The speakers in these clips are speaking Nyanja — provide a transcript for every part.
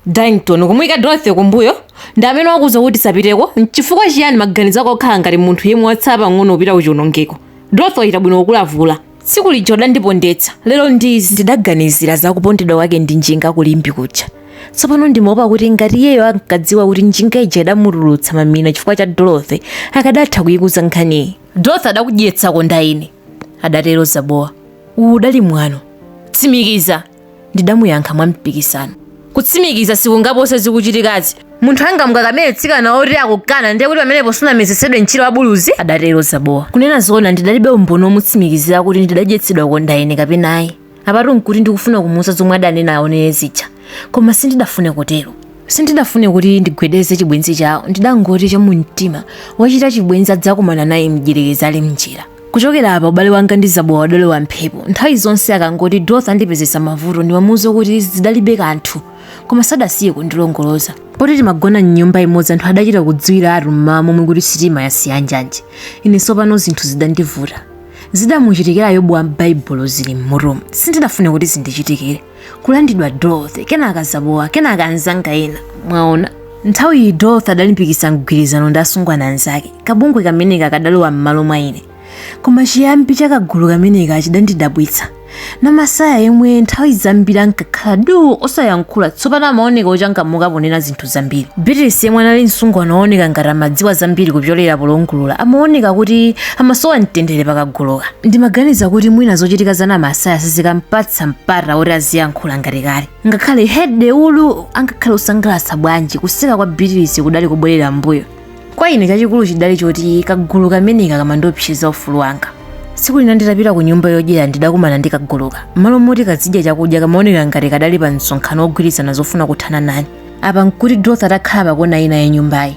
Darlington, kumuika Dorothy kumbuyo, ndi amene wakuuza kuti usapiteko? N'chifukwa chiyani maganizo ako akukhala ngati munthu yemwe watsala pang'ono kupita kuchiwonongeko? Dorothy wachita bwino kukulavula. Tsiku lija udandipondetsa, lero ndi izi. Ndidaganizira za kupondedwa kwake ndi njinga ku Limbe kuja. Tsopano ndimaopa kuti ngati iyeyo ankadziwa kuti njinga ija idamutulutsa mamina chifukwa cha Dorothy, akadatha kuikuza nkhaniyi. Dorothy adakudyetsa kondaine, adatero Zabowa. Uwu udali mwano. Tsimikiza! ndidamuyankha mwampikisano kutsimikiza sikungapose zikuchitikazi munthu angamukakamire mtsikana woti akukana ndiye kuti pamenepo sunamezetsedwe mchira wa buluzi adatero zabowa kunena zoona ndidalibe umboni womutsimikizira kuti ndidadyetsedwa kondaine kapena ayi apatu nkuti ndikufuna kumuuza zomwe adanena aonere zija koma sindidafune kutero sindidafune kuti ndigwedeze chibwenzi chawo ndidangoti chamumtima wachita chibwenzi adzakumana naye mdyerekezi ali mnjira kuchokera apa ubale wanga ndi zabowa udalowa mphepo nthawi zonse akangoti dorothy andipezetsa mavuto ndimamuuza kuti zidalibe kanthu koma sadasiye kundilongoloza poti timagona mnyumba imodzi anthu adachita kudziwiratu mmawa momwe kuti sitima yasiya njanji ine tsopano zinthu zidandivuta zidamuchitikira yobu wa m'baibulo zili m'mutumu sindidafune kuti zindichitikire kulandidwa dorothy kenaka zabowa kenaka anzanga ena mwaona nthawi iyi dorothy adalimbikitsa mgwirizano ndi asungwana anzake kabungwe kameneka kadalowa m'malo mwa ine koma chiyambi cha kagulu kameneka chidandidabwitsa namasaya yemwe nthawi zambiri ankakhala du osayankhula tsopano amaoneka ochangamuka ponena zinthu zambiri beatrice yemwe anali msungwana wooneka ngati amadziwa zambiri kupyolera polongulula amaoneka kuti amasowa mtendere pakaguluka ndimaganiza kuti mwina zochitika za namasaya sizikampatsa mpata woti aziyankhula ngati kale ngakhale hede ulu angakhale wosangalatsa bwanji kuseka kwa beatrice kudali kubwerera mbuyo Kwa ine chachikulu chidali choti kagulu kameneka kamandiopseza ufulu wanga. Tsiku lina nditapita ku nyumba yodyera ndidakumana ndi kaguluka. M'malo moti kazidya chakudya kamaoneka ngati kadali pa msonkhano wogwirizana zofuna kuthana nane. Apa nkuti Dorothy atakhala pakona ina ya nyumbayi.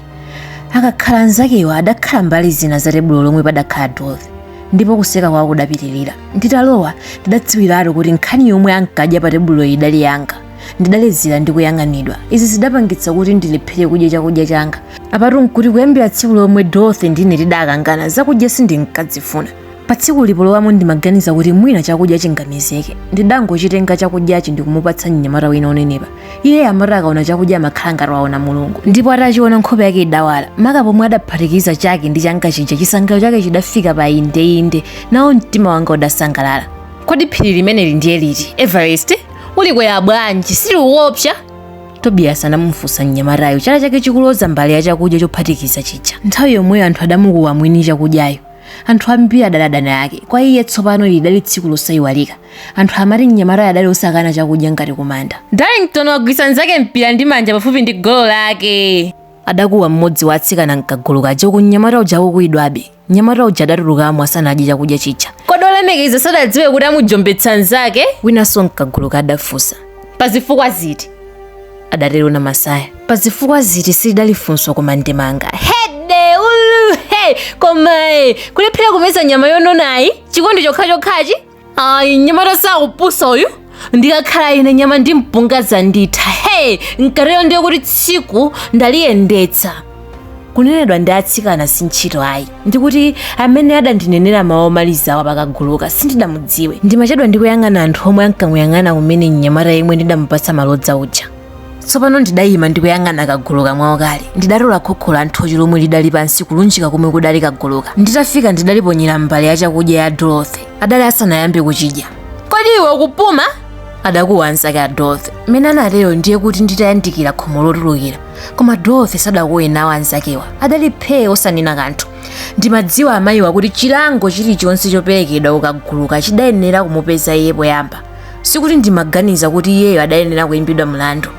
Akakhala anzakewa adakhala mbali zina za tebulo lomwe padakhala Dorothy ndipo kuseka kwawo kudapitirira. Nditalowa ndidadziwiratu kuti nkhani yomwe ankadya pa tebuloyi idali yanga. ndidalezera ndi kuyang'anidwa izi zidapangitsa kuti ndilephere kudya chakudya changa apatu nkuti kuyambira tsiku lomwe dorothy ndine tidakangana zakudya sindinkadzifuna pa tsikuli polowamo ndimaganiza kuti mwina chakudya chingamezeke ndidangochitenga chakudyachi ndikumupatsa mnyamata wina onenepa iye amati akaona chakudya amakhala ngati waona mulungu ndipo atachiona nkhope yake idawala maka pomwe adaphatikiza chake ndi changa chija chisangalalo chake chidafika pa indeinde nawo mtima wanga udasangalala kodi phiri limeneli ndiye liti everest ulikwera bwanji siliwopsa tobiyasi anamufunsa mnyamatayo chala chake chikuloza mbale ya chakudya chophatikiza chija nthawi yomweyo anthu adamukuwa mwini chakudyayo anthu ambiri adali adani ake kwa iye tsopano ili lidali tsiku losayiwalika anthu amati mnyamatayo adali osakana chakudya ngati kumanda darlington wagwisa nzake mpira ndi manja pafupi ndi golo lake adakuwa mmodzi wa atsikana mkagulu kaja uku mnyamata uja akukuwidwabe mnyamata uja adatulukamo asanadye chakudya chija kodi olemekeza sadadziwe kuti amujombetsa mnzake winanso mkaguluka adafunsa pa zifukwa ziti adatero namasaya pa zifukwa ziti silidali funso koma ndemanga hede ulu he koma kulephera kumeza nyama yononayi chikondi chokhachokhachi ayi mnyamata sakupusa uyu ndikakhala ine nyama ndi mpunga zanditha he nkatero ndiye kuti tsiku ndaliyendetsa kunenedwa ndi atsikana si ntchito ayi ndikuti amene adandinenera mawu omalizawa pakaguluka sindidamudziwe ndimachedwa ndikuyang'ana anthu omwe ankamuyang'ana kumene mnyamata yemwe ndidamupatsa malodza uja tsopano ndidayima ndikuyang'ana kaguluka mwaukali ndidatola khokho la nthochi lomwe lidali pansi kulunjika komwe kudali kaguluka nditafika ndidaliponyera mbale ya chakudya ya dorothy adali asanayambe kuchidya kodi iwe ukupuma adakuwa anzake a dorothy mmene anatero ndiye kuti nditayandikira khomo lotulukira koma dorothy sadakuwe nawo anzakewa adali phee osanena kanthu ndimadziwa amayiwa kuti chilango chilichonse choperekedwa kukaguluka chidayenera kumupeza iye poyamba sikuti ndimaganiza kuti iyeyo adayenera kuimbidwa mlandu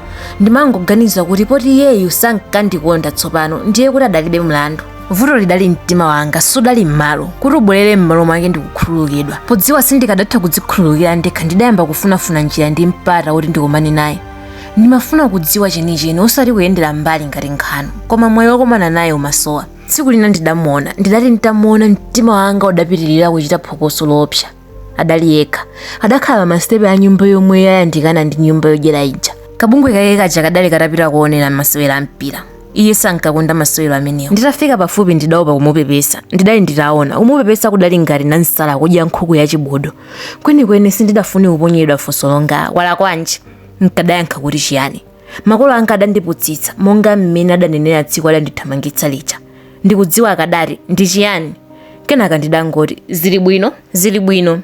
ndimangoganiza kuti poti iyeyu sankandikonda tsopano ndiye kuti adalibe mlandu vuto lidali mtima wanga sudali m'malo kuti ubwerere m'malo mwake ndikukhululukidwa podziwa sindikadatha kudzikhululukira ndekha ndidayamba kufunafuna njira ndi mpata woti ndikomane naye ndimafuna kudziwa chenicheni osati kuyendera mbali ngati nkhanu koma mwayi wokomana naye umasowa tsiku lina ndidamuona ndidati nditamuona mtima wanga udapitirira kuchita phokoso loopsa adali yekha adakhala pa masitepe a nyumba yomwe yayandikana ndi nyumba yodyera ija kabungwe kake kaja kadali katapita kuonera masewero a mpira iye sankakonda masewero amenewo nditafika pafupi ndidaopa kumupepesa ndidali nditaona kumupepesa kudali ngati nansala kudya nkhuku ya chibudu kwenikweni sindidafune kuponyedwa funso longa walakwanji nkadayankha kuti chiyani makolo anga adandiputsitsa monga mmene adanenera tsiku adandithamangitsa lija Ndikudziwa akadati, Ndi chiyani? Kenaka ndidangoti, Zili bwino, zili bwino.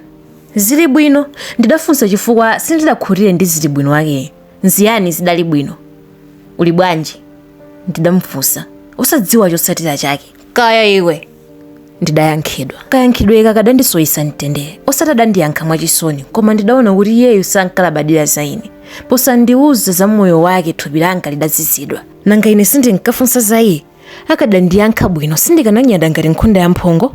Zili bwino? ndidafunsa chifukwa sindidakhutire ndi zili bwino wakeyo. Nziyani zidali bwino? Uli bwanji? ndidamufunsa, osadziwa chotsatira chake. Kaya iwe! ndidayankhidwa. Kayankhidweka kadandisoyisa mtendere. Osati adandiyankha mwachisoni, koma ndidaona kuti iyeyu sankalabadira za ine. Posandiuza za moyo wake thupi langa lidazizidwa. Nanga ine sindinkafunsa za iye? akadandiyankha bwino sindikananyada ngati nkhunda ya mphongo